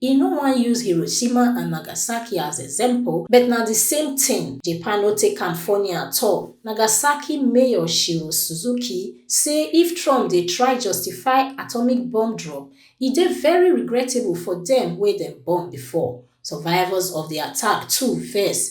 E no wan use Hiroshima and Nagasaki as example, but na di same tin. Japan no take am funny at all. Nagasaki mayor Shiro Suzuki say if Trump dey try justify atomic bomb drop, e dey very regrettable for dem wey dem bomb before. Survivors of di attack too vex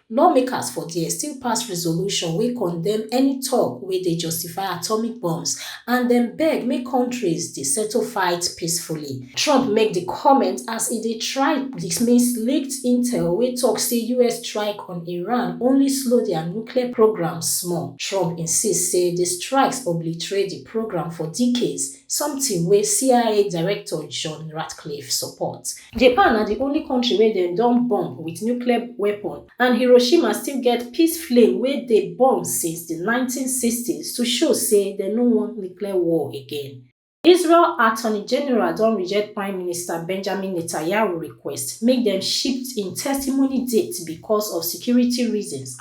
Lawmakers for there still pass resolution wey condemn any talk wey dey justify atomic bombs and dem beg make countries dey settle fight peacefully. Trump make di comment as e dey try dismiss leaked intel wey talk say us strike on Iran only slow dia nuclear programme small. Trump insist say di strikes obliterate di programme for decades, something wey cia director john ratcliffe support. japan na di only kontri wey dem don bomb wit nuclear weapon and hiroshima still get peace flame wey dey burn since di nineteen sixty s to show say dem no want nuclear war again. israel attorney general don reject prime minister benjamin netanyahu request make dem shift im testimony date becos of security reasons.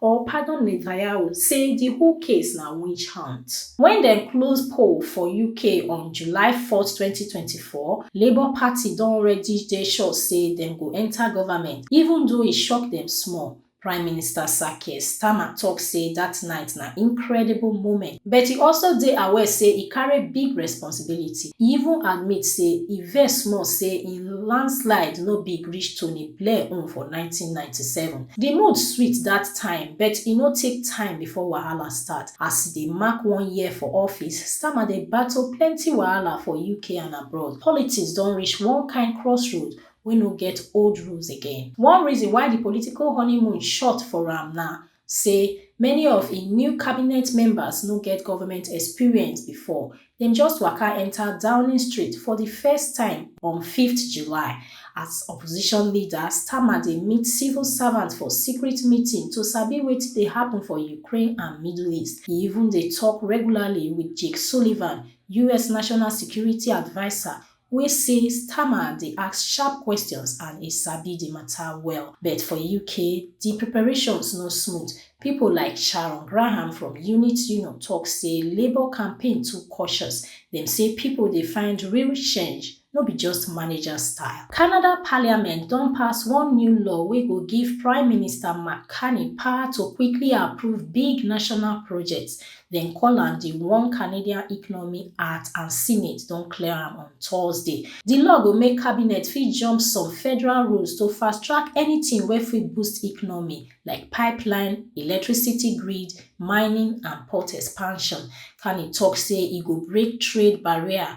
or pardon Netanyahu say di whole case na witch hunt. Wen dem close poll for UK on July four, twenty twenty four, Labour Party don already dey sure say dem go enta government, even though e shock dem small. Prime Minister Sir Keir Starmer tok say dat night na incredible moment, but e also dey aware say e carry big responsibility. E even admit say e vex small say im landslide no big reach Tony Blair own for nineteen ninety seven. Di mood sweet dat time but e no take time before wahala start. As e dey mark one year for office, Starmer dey battle plenty wahala for UK and abroad. Politics don reach one kind crossroad wey no get old rules again. One reason why di political honeymoon short for am na say many of im new cabinet members no get government experience before, Dem just waka enta Downing Street for di first time on fifth July as opposition leader Starmer dey meet civil servants for secret meeting to sabi wetin dey happun for Ukraine and Middle East. E even dey tok regularly wit Jake Sullivan, us national security adviser, wey say Starmer dey ask sharp questions and e sabi di mata well. But for UK, di preparations no smooth. Pipo like Sharon Graham from Unit Union tok say Labour campaign too cautious. Dem say pipo dey find real change, no be just manager style. Canada parliament don pass one new law wey go give Prime Minister Mark Carney power to quickly approve big national projects, Dem call am di one Canadian economy at and Senate don clear am on Thursday. Di law go make cabinet fit jump some federal rules to fast-track anytin wey fit boost economy, like pipeline, electricity grid, mining and port expansion. Carney tok say e go break trade barrier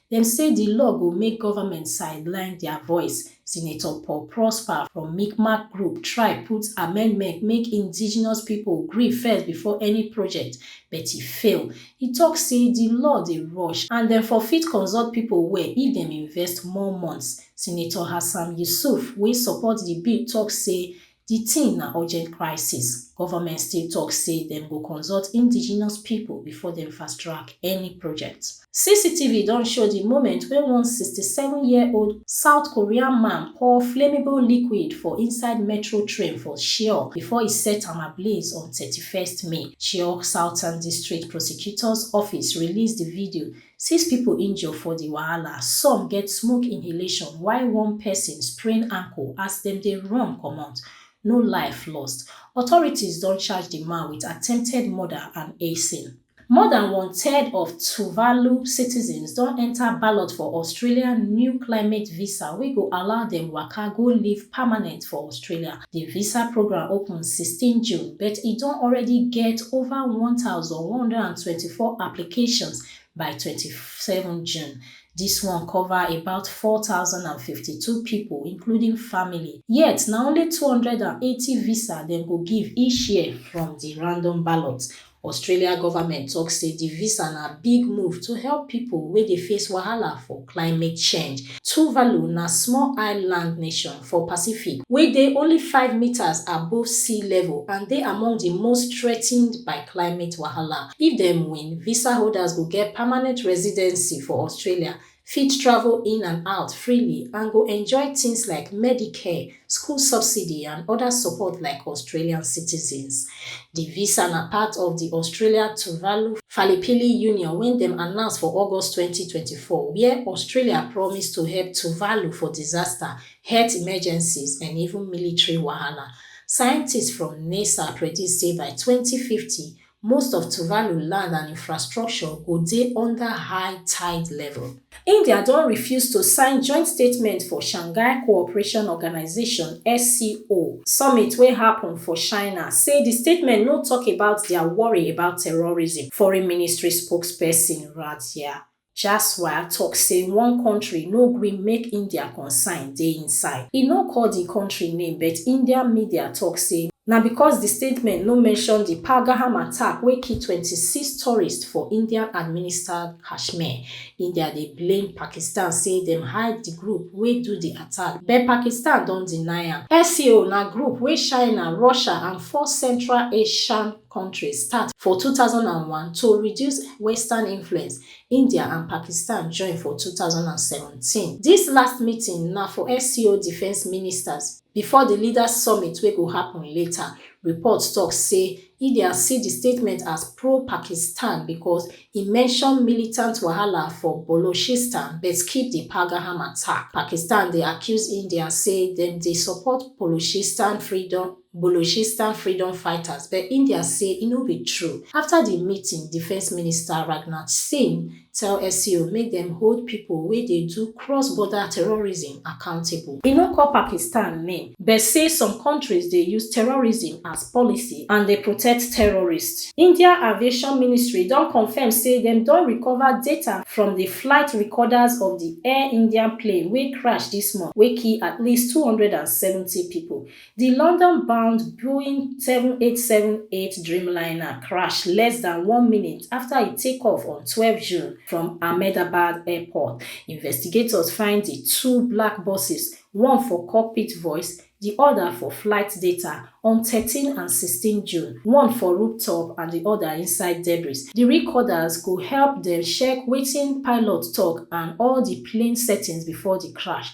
Dem say di law go make government sideline dia voice. Senator Paul Prosper from Mi'kmaq group try put amendment make indigenous pipo gree first before any project, but e fail. E tok say di law dey rush and dem for fit consult pipo well if dem invest more months. Senator Hassam Yusuf wey support di bill tok say Di tin na urgent crisis, government still tok say dem go consult indigenous pipo before dem fast-track any project. CCTV don show di moment wey one sixty seven year old South Korean man pour flammable liquid for inside metro train for Cheoh before e set am ablaze on thirty first May. Cheoh Southern District Prosecutor's Office release di video Six pipo injure for di wahala, some get smoke inhalation while one pesin sprain ankle as dem dey run comot, no life lost. Authorities don charge di man wit attempted murder and arson. More dan one third of Tuvalu citizens don enta ballot for Australia new climate visa wey go allow dem waka go live permanent for Australia Di visa programme open sixteen June but e don already get ova one one thousand hundred and twenty four applications by twenty seven June. Dis one cover about four four thousand and fifty two pipo including family, yet na only two hundred and eighty visa dem go give each year from di random ballot Australia government tok say di visa na big move to help pipo wey dey face wahala for climate change. Tuvalu na small island nation for Pacific wey dey only five metres above sea level and dey among di most threatened by climate wahala. If dem win, visa holders go get permanent residency for Australia fit travel in and out freely and go enjoy tins like medicare school subsidy and oda support like australian citizens di visa na part of di australia-tuvalu falipili union wey dem announce for august twenty twenty four wia australia promise to help tuvalu for disaster health emergencies and even military wahala scientists from nasa predict say by twenty fifty most of tuvalu land and infrastructure go dey under high tide level. india don refuse to sign joint statement for shanghai cooperation organisation sco summit wey happun for china say di statement no tok about dia worry about terrorism foreign ministry spokesperson rajiah Jaswal tok say one kontri no gree make India concern dey inside. E no call di kontri name but Indian media tok say na because di statement no mention di Pahalgaham attack wey kill twenty six tourists for Indian administered Kashmir. India dey blame Pakistan say dem hire di group wey do di attack but Pakistan don deny am. SCO na group wey China, Russia and four Central Asian kontris start for two thousand and one to reduce western influence india and pakistan join for two thousand and seventeen dis last meeting na for sco defence ministers bifor di leaders summit wey go happun later reports tok say india see di statement as pro-pakistan becos e mention militant wahala for bolochistan but skip di pahalgam attack pakistan dey accuse india say dem dey support bolochistan freedom Balochistan freedom fighters but India say e no be true. Afta di meeting, Defence Minister Rajnath Singh tell SCO make dem hold pipo wey dey do cross-border terrorism accountable. E no call Pakistan name but say some kontris dey use terrorism as policy and dey protect terrorists. India Aviation Ministry don confirm say dem don recover data from di flight recorders of di Air India plane wey crash dis month wey kill at least two hundred and seventy pipo. Di London-bound Boeing seven eight seven eight Dreamliner crash less dan one minute afta e take off on twelve June from Ahmedabad Airport. Investigators find di two black boxes, one for cockpit voice, di oda for flight data, on thirteen and sixteen June, one for rooftop and di oda inside debris. Di recorders go help dem check wetin pilots tok and all di plane settings before di crash.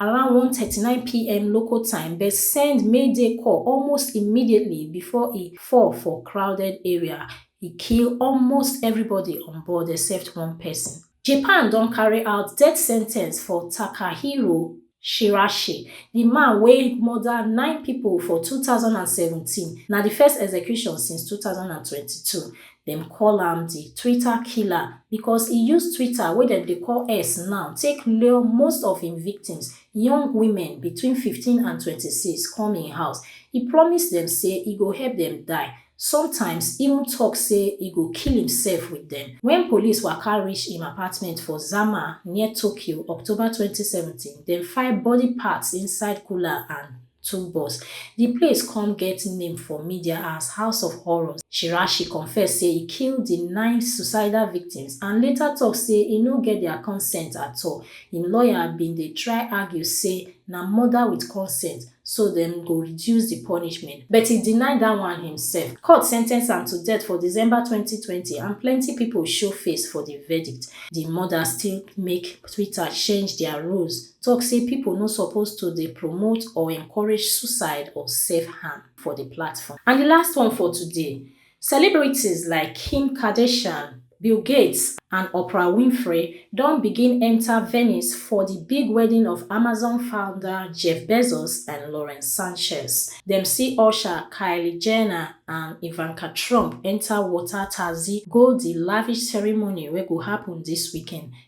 around one thirty nine pm local time dem send mayday call almost immediately before e fall for crowded area e kill almost everybody on board except one person japan don carry out death sen ten ce for takahiro shirashi di man wey murder nine pipo for two thousand and seventeen na di first execution since two thousand and twenty two Dem call am di Twitter killer because e use Twitter, wey dem dey call X now, take lure most of im victims, young women between fifteen and twenty six, come im house. E promise dem say e go help dem die, sometimes even tok say e go kill imsef wit dem. Wen police waka reach im apartment for Zama, near Tokyo, October twenty seventeen, dem find body parts inside cooler and. two boss. Di place come get name for media as house of horrors. Shirashi confess say e kill di nine suicidal victims and later tok say e no get dia consent at all. Im lawyer bin dey try argue say na murder wit consent so dem go reduce di punishment, but e deny dat one imsef. Court sentence am to death for December twenty twenty and plenty pipo show face for di verdict. Di murder still make Twitter change dia rules. tok say pipo no suppose to dey promote or encourage suicide or self harm for di platform. And di last one for today, celebrities like Kim Kardashian, Bill Gates and Oprah Winfrey don begin enta Venice for di big wedding of Amazon founder Jeff Bezos and Lauren Sanchez. Dem see Usher, Kylie Jenner and Ivanka Trump enta water taxi go di lavish ceremony wey go happun dis weekend